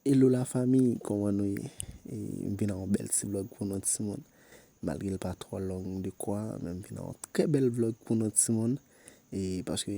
Hello la famille kòman nou ye m vin ak yon bèl ti vlog pou nou ti moun malgre l pa twò long de kwa men m vin ak yon trè bèl vlog pou nou ti moun e paske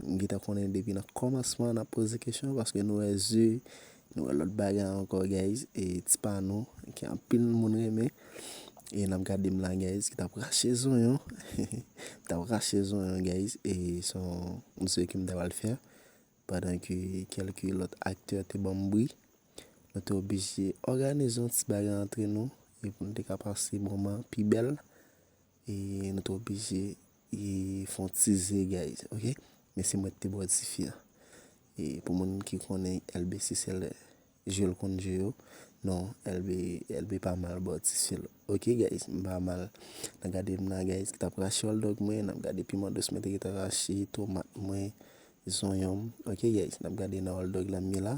m gentan konnen depi nan kòmansman nap poze kesyon paske nou wè ze nou wè lòt bagay ankò guys e ti pa nou ke anpil moun renmen e nap gade m la guys ki tap rache zonyon tap rache zonyon guys e son ze ke m ta pral fè Pandan ke kèlke lòt aktè te ban m bri, nou te oblije òganize yon ti bagay antre nou e pou nou te ka pase moman pi bèl e nou te oblije e fè yon ti zegèy ok. Men se mwen ki te bwè difi an. E pou moun ki konnen LBC se lè. Jel konn je yo non elbe elbe pa mal baw ti sel ok guys m pa mal nan gade m la guys tap rache hotdog mwen nap gade piman dous mwen te gentan rache tomat mwen zonyon m ok guys nap gade nan hotdog la m ye la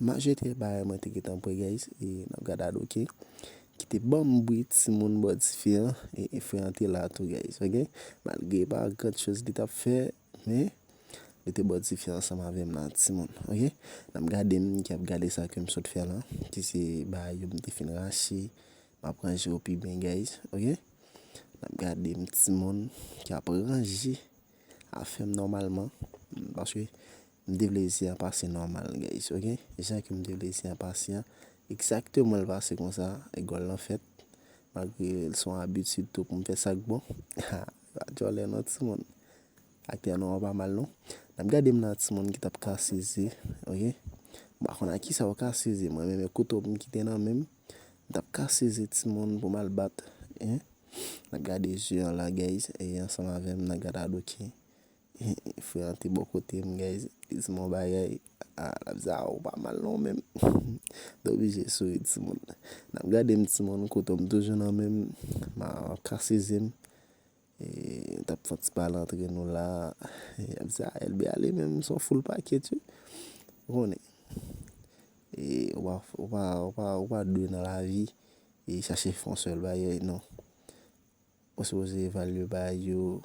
map jete bagay mwen te gentan pran guys nap gad ad ok kite banm bri timoun baw tifi an e frè an te la tou guys ok malgre epa gran choz li tap fè. Mwen Mete bòt tifi ansanm avèm la timoun ok nap gadem ki ap gade sa kem sot fè la ki se bagay yo m te fin rache map ranje yo pi byen guys ok nap gadem timoun ki ap ranje afèm nòmalman paske m te vle zen an pase nòmal guys ok jan kem te vle zen an pase an egzakteman l pase konsa gòl lan fèt malgre l son abitid tou poum fè sak bon haa. Pa djòlè non ti moun. Aktè nou an pa mal non. Nap gade m nan ti moun ki tap kase ze ok. M pa konn ak kisa ou kase ze mwen menm e kouto m ki te nan men m. M tap kase ze ti moun pou m al bat. Nap gade ze an la guys e ansanm avè m nan gad adoken. Frè an te bò kote m guys li di m yon bagay ah lap di ah ou pa mal non men mwen oblije souri ti moun nap gade m ti moun kouto m toujou nan men m ma kase zye m nou tap fè ti pale antre nou la yap di ah Elbe ale men se yon foul pakèt wi ou konnen ou pa ou pa ou pa dwe nan lavi chache fè yon sèl bagay non ou sipoze evalye bagay yo.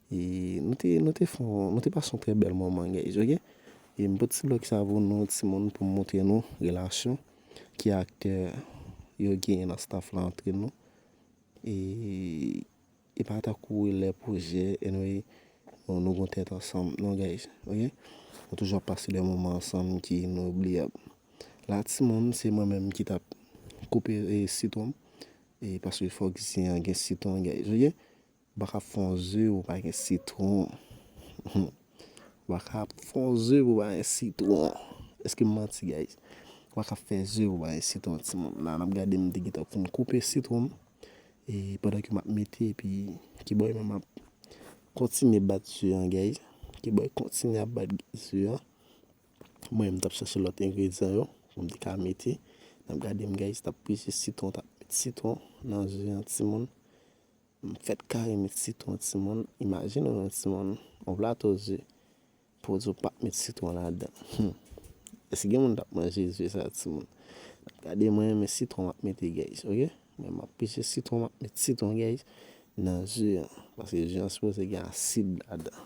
E nou te, nou te fon, nou te pase yon trè bèl moman guys ok. E m pote ti blòg sa pou nou timoun pou m montre nou relasyon ki aktè yo genyen nan staff la antre nou. E e pa tankou lè pwojè anyway nou gon tèt ansanm non guys ok. Nou toujou ap pase de moman ansanm ki inobliyab. La timoun se mwen menm ki tap koupe sitwon m e paske fòk zen an gen sitwon guys ok. Baka ap fon ze pou pa gen sitron humm baka ap fon ze pou pa gen sitron eskem manti guys baka ap fè ze pou pa gen sitron ti moun la nap gade m te gentan fin koupe sitwonm e pandan ke map mete epi kiboy mwen map kontinye bat ze an guys kiboy kontinye ap bat ze an mwen menm m tap chache lòt engredyan yo pou m te ka mete nap gade m guys tap peze sitwon tap met sitwon nan ze an ti moun. M fèt kare met sitwon timoun imajine w yon timoun yon plato ze pou w di w pap met sitwon ladan humm èske gen moun kap manje ze sa timoun nap gade mwen men sitwon map mete guys ok men map pise sitwon map met sitwon guys nan ze an paske ze an sipoze gen asid ladan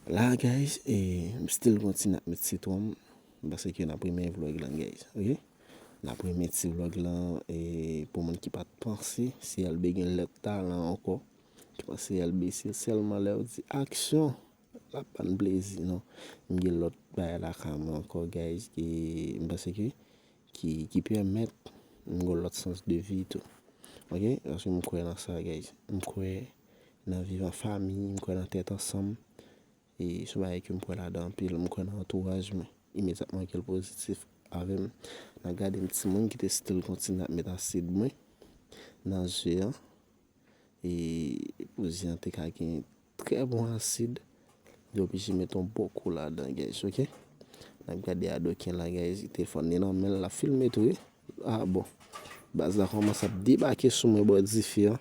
la guys e m still kontinye ap met sitwon m paske nap renmen vlog lan guys ok. N ap remèt si vlog lan e pou moun ki pa t panse si Elbe gen lèt talan ankò. Ki panse Elbe se sèlman lè ou di aksyon l ap ban n plezi non. M gen lòt bagay lakay mwen ankò guys e m panse ke ki pèmèt m gen lòt sans de vi tou. Ok paske m kwè nan sa guys. M kwè nan viv an fami, m kwè nan tèt ansanm. E son bagay ke m kwè ladan anpil. M kwè nan antouraj mwen. Imedyatman ke l pozitif avè m, nan gade m timoun ki te still kontinye ap met asid mwen nan je an. E pou je an te ka gen trè bon asid, yo oblije met yon bon kou ladan guys ok. N ap gade Adoken la guys, telefòn li nan men l, l ap filme tou wi. Ah bon. Baz la komanse ap debake sou mwen bò dife an.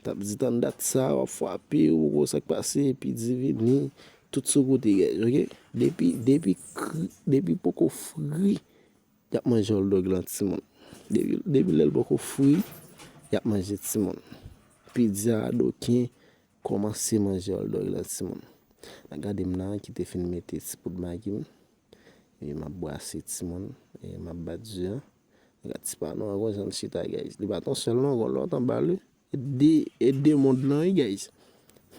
Tap di tann dat sa wap fwape ou poko wè sak pase epi di vini tout sou kote guys ok. Depi depi kri depi poko fri yap manje hotdog lan ti moun. Depi lèl poko fri yap manje ti moun. Pizza adoken komanse manje hotdog lan ti moun. Nan gadem nan kite fin mete ti poud magi m. E map brase ti moun E map bat ze an Gad ti panou an gwen jan li chita guys Li pat yon sèl non gon lòt anba l wi E 2 moun lan wi guys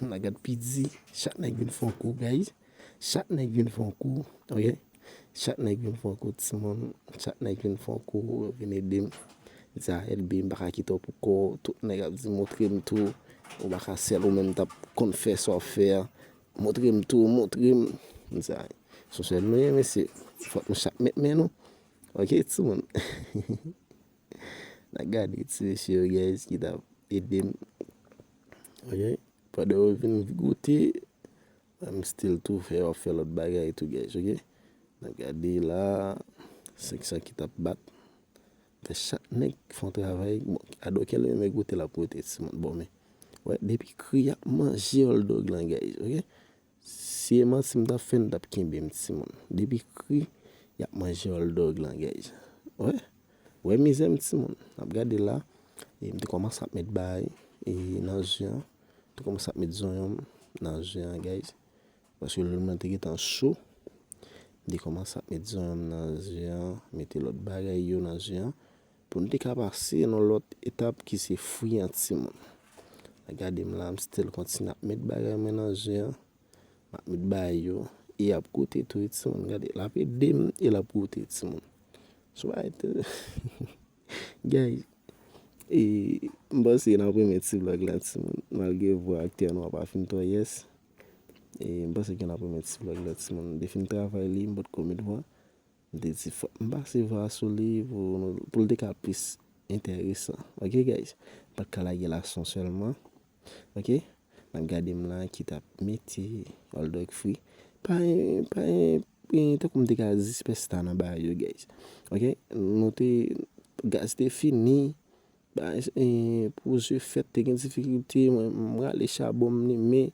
Nan gad pi di Chak nèg vin fon kou guys Chak nèg vin fon kou Ok Chak nèg vin fon kou ti moun Chak nèg vin fon kou Vin ede m Za LB m paka kite w pou kò Tout nèg ap di montre m tou Ou paka sèl ou menm tap konn fè sa w fè a Montre m tou Montre m Za LB. Sou sèl nou ye mesye. Fòk nou chak met men nou. Ok ti moun. Nan gade ti mesye yo guys ki ta ede m. Ok. Pandan yo vin goute. An m still tou fè yo ap fè lòt bagay tou guys ok. Nan gade la. Se ki sa ki ta bat. Fè chak nèg fè yon travay. Ado kèl menm e goute l ap goute ti moun. Bon men. Wè depi kri a manje oldog lan guys ok. Si e manti m tap fè nou tap kenbe m timoun depi kri yap manje oldog lan gèj wè wè mizè m timoun nap gade la e m te kòmanse ap met bay e nan je an m te kòmanse ap met zonyon m nan je an gèj paske lèl mwen te gentan cho m te kòmanse ap met zonyon m nan je an mete lòt bagay yo nan je an Pou nou te ka pase nan lòt etap ki se fwi an timoun. Nan gade m la m still kontinye ap met bagay mwen nan je an. M ap met ba yo e y ap goute tou wi timoun. Gade l ap ede m e l ap goute timoun. Sou pa ete guys e m panse n ap renmen ti vlog la timoun malgre vwa aktè nou an pa fin twò yes. E m panse ke n ap renmen ti vlog la timoun. M te fin travay li m potko met vwa. M te di fok m pase vwa sou li pou l te ka plis enteresan ok guys m pat ka lage la son selman ok nap gade m la ki tap mete oldog free pa gen tankou m te ka di sipèsta nan bagay yo guys ok nou te gaz te fini pou ze fèt te gen difikilte mwen rale chabon m limen.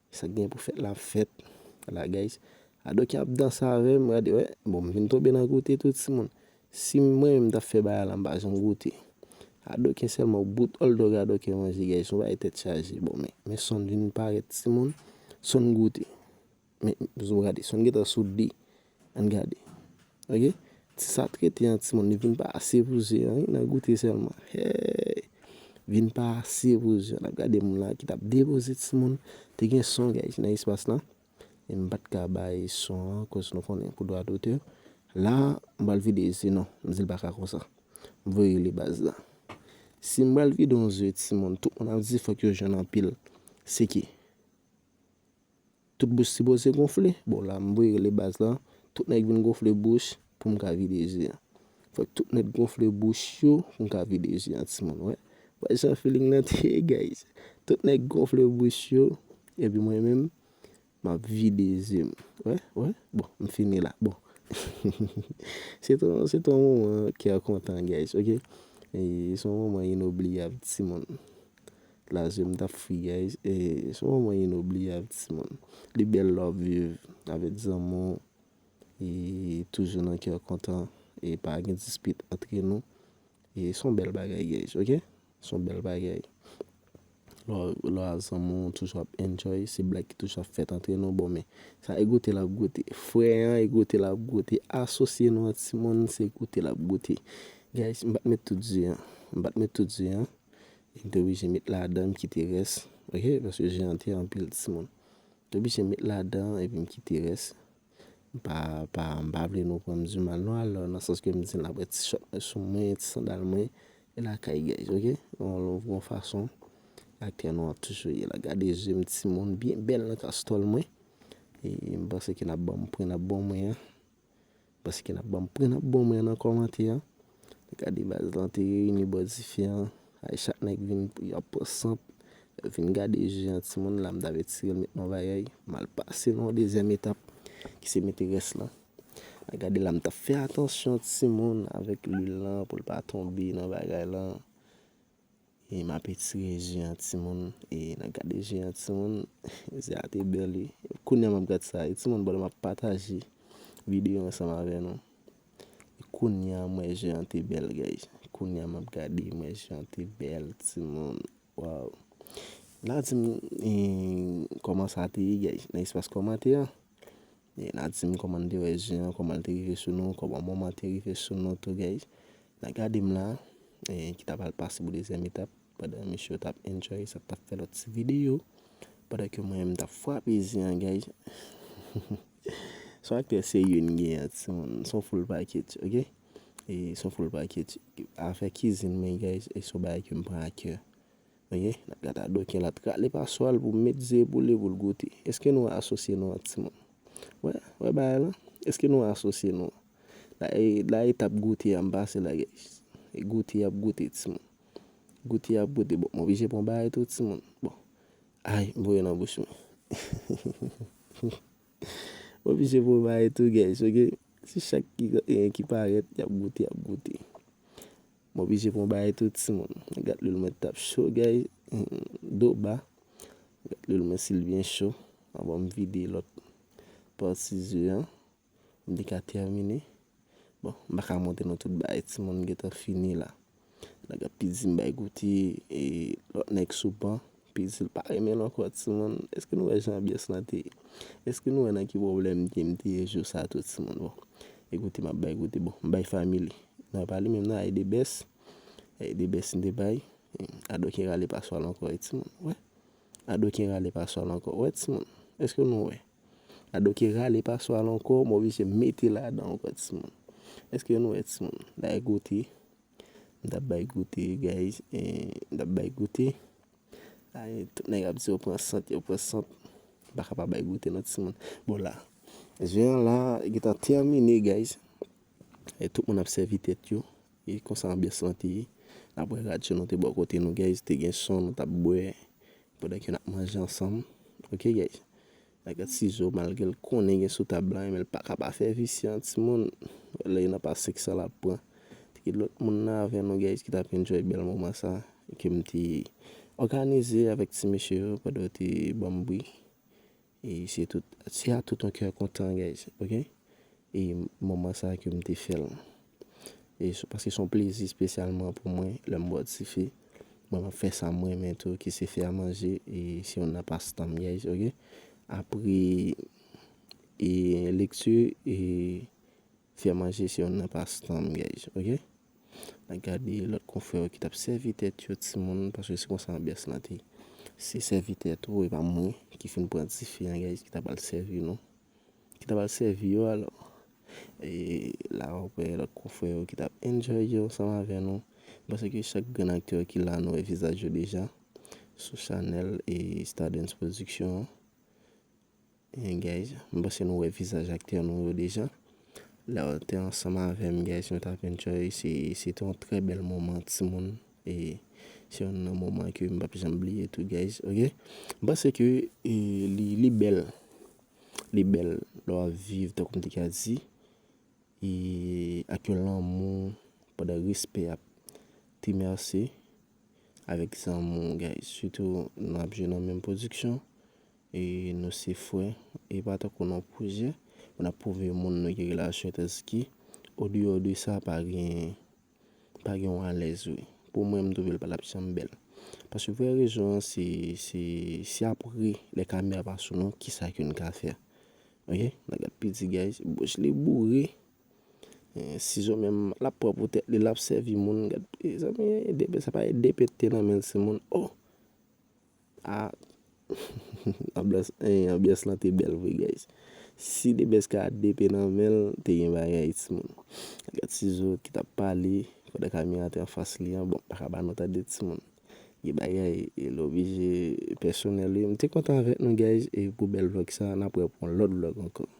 Sak gen pou fèt la ap fèt la guys. Ado ki ap danse avèm gade wè bon m vin tonbe nan goute tou ti moun si mwen menm m tap fè bagay la m pa janm goute ado ki sèlman w bout all dog ado ki manje guys son bagay tèt chaje bon men men son vin parèt ti moun son goute men gade son gentan sou 2 Ann gade ok ti sa trete an timoun li vin pa ase pou ze an wi nan goute sèlman heyy vin pa ase pou ze an nap gade moun la ki tap depoze timoun te gen son guys nan espas la e m pat ka bay son an koz nou konnen pou dwa dotè la m pral vide ze non m di l paka konsa m voye rele baz la si m pral vide yon ze timoun tout moun ap di fòk yo jwenn anpil se ki. Tout bouch sipoze gonfle. Bon la m voye rele baz la. Tout nèg vin gonfle bouch pou m ka vide je an. Fòk tout nèg gonfle bouch yo pou m ka vide je an timoun. Wè jan feeling lan te ye guys. Tout nèg gonfle bouch yo epi mwen menm m ap vide je m. Wè wè bon m fini la bon. Se te yon se te yon moman kè kontan guys ok. Se yon moman inobliyab timoun. La jem tap fri guys e son moman inobliyab ti moun li bèl lè wap viv avèk zanmiw e toujou nan kè kontan e pa gen dispit antre nou e son bèl bagay guys ok son bèl bagay lè wap zanmiw toujou ap enjoy se blag ki toujou ap fèt antre nou bon men sa e goute lap goute frè an e goute lap goute asosye nou an ti moun se goute lap goute guys m pat met tout di an m pat met tout di an Li te oblije met ladan m kite rès ok paske je an te anpil ti moun. M te oblije met ladan epi m kite rès. M pa pa m pa vle nou pran m di mal non alò nan sans ke m di n aprè ti chòt mwen sou mwen, ti sandal mwen e lakay guys ok. Yon fason aktè nou an toujou ye la. Gade je m ti moun byen bèl nan kastòl mwen. E m panse ke n ap ban m pwen n ap ban mwen an. Paske nap banm pran nap bon mwen nan kòmante an gade baz lan te reyini bò dife an ay chak nèg vin yap pran sant yap vin gade je an timoun la mta vle tirel met nan vayèy mal pase nan yon dezyèm etap ki se mete rès lan a gade la mtap fè atansyon timoun avèk lwil lan poul pa tonbe nan bagay lan E map etire je an timoun e nan gade je an timoun je a te bèl wi kounya map gad sa e timoun pandan map pataje video ansanm avè nou e kounya m wè je an te bèl guys kounya map gade m wè je an te bèl timoun waw la dim kòman sa te ye guys nan espas kòmantè an Na dim koman n te wè zen an koman l te rive sou nou koman moman an te rive sou nou tou guys na gade m la ki ta pral pase pou dezyèm etap pandan mesye yo tap enjoy sa tap fè lòt ti videyo pandan ke mwen m tap frape zen an guys son aktè serye n gen an ti moun son full package ok son full package afè kizin mwen guys son bagay ke m pran a kè. Oke, n ap gade Ado Ken l ap rale paswa l pou l met ze pou li pou l goute. Eske nou asosye nou ak timoun? Wè, wè bagay lan? Eske nou asosye nou? La e, la etap goute a m pase la gays. E goute ap goute timoun. Goute ap goute. Bon, m oblije pran bagay tou timoun. Bon. Ay, m voye nan bouch mwen. M oblije pran bagay tou gays, oke. Se chak ki, ki parèt, y ap goute, y ap goute. M oblije pran yon bagay tou ti moun. Gat lwil mwen tap cho guys. Do ba. Gat lwil mwen sil byen cho. Avan m vide lot pati ze an. M te ka termine. Bon m pa ka montre nou tout bagay ti moun. M gentan fini la. Nèg ap pi di m bay goute. E lot nèg sou ban. Pitit pa renmenl ankò timoun. Eske nou wè jan anbyans lan te ye? Eske nou wè nan ki pwoblèm Kim te ye jou sa tou timoun bon e kote map bay kote bon m bay family nan pale menm nan aide best aide best m te bay adoken rale paswal ankò wi timoun wè adoken rale paswal ankò wè timoun eske nou wè adoken rale paswal ankò m oblije mete ladan ankò timoun eske nou wè timoun nan e kote. M tap bay goute guys M tap bay goute Tout nèg ap di yo pran sant yo pran sant M paka pa bay goute non timoun Bon la Je an la gentan tèmine guys E tout moun ap sèvi tèt yo E konsa anbyans lan te ye Apre radyo nou te bò kote nou guys Te gen son nou tap bwè Pandan ke nap manje ansanm Ok guys Bagèt sizo malgre l konnen gen sou tab la menl paka pa fè visye an timoun wè lè youn ap a 500 lap pran te gen lòt moun nan avè nou guys ki tap enjoy bèl moman sa kem te òganize avèk ti mesye yo pandan yo te banm bri e se tout se a tout yon kè kontan guys ok e moman sa kem te fèl. E se paske son plezi spesyalman pou mwen lèm bò dife. Mwen map fè sam renmen tou ki se fè a manje e se yon nan pastan m guys ok. Apre e lekti e fè a manje se yon nan pastan m guys ok. Mwen gade lòt konfrè yo ki tap sèvi tèt yo ti moun paske se konsa anbyans lan te. Se sèvi tèt ou e pa mwen ki fin pran dife an guys ki ta pral sèvi nou. Ki ta pral sèvi yo alò. E la wap wè lòt konfrè yo ki tap enjoy yo ansanm avè nou. M panse ke chak grenn aktè ki la nou wè vizaj yo deja sou chanèl e Stardens production an. Eeh guys, m panse nou wè vizaj aktè nou yo deja. Lè yo te ansanm avè m guys nou tap enjoy, se te yon trè bèl moman timoun. E se youn nan moman ke m pap janm bliye tou guys ok. M panse ke li bèl, li bèl lè w ap viv tankou m te ka di e ak yon lanmou pandan respè ap timèse avèk zanmou guys. Sitou nou ap jwe nan menm pwodiksyon e nou se frè e pa tankou nan pwojè pou n ap pwouve moun nou gen relasyon tanski odeyò de sa pa gen. Pa gen yon alèz wi. Pou mwen m twouve l pa t ap janm bèl. Paske vrè rezon an se, se, se apre lè kamera pa sou nou kisa ke n ka fè. Ok, n ap gad piti guys. Bouch li boure. Sizo menm l ap pran pou tèt li l ap sèvi moun. Gad mezanmi, sa parèt 2 pete nan men ti moun. Oh! Ahh anbyans lan te bèl vre guys si the best ka DP nan menl te gen bagay ti moun gad sizo ki tap pale pandan camera te anfas li an bon paka ba nou tande ti moun gen bagay e le oblije pèsonèl wi mte kontan avèk nou guys e pou bèl vlog sa nap wè pou yon lòt vlog ankò.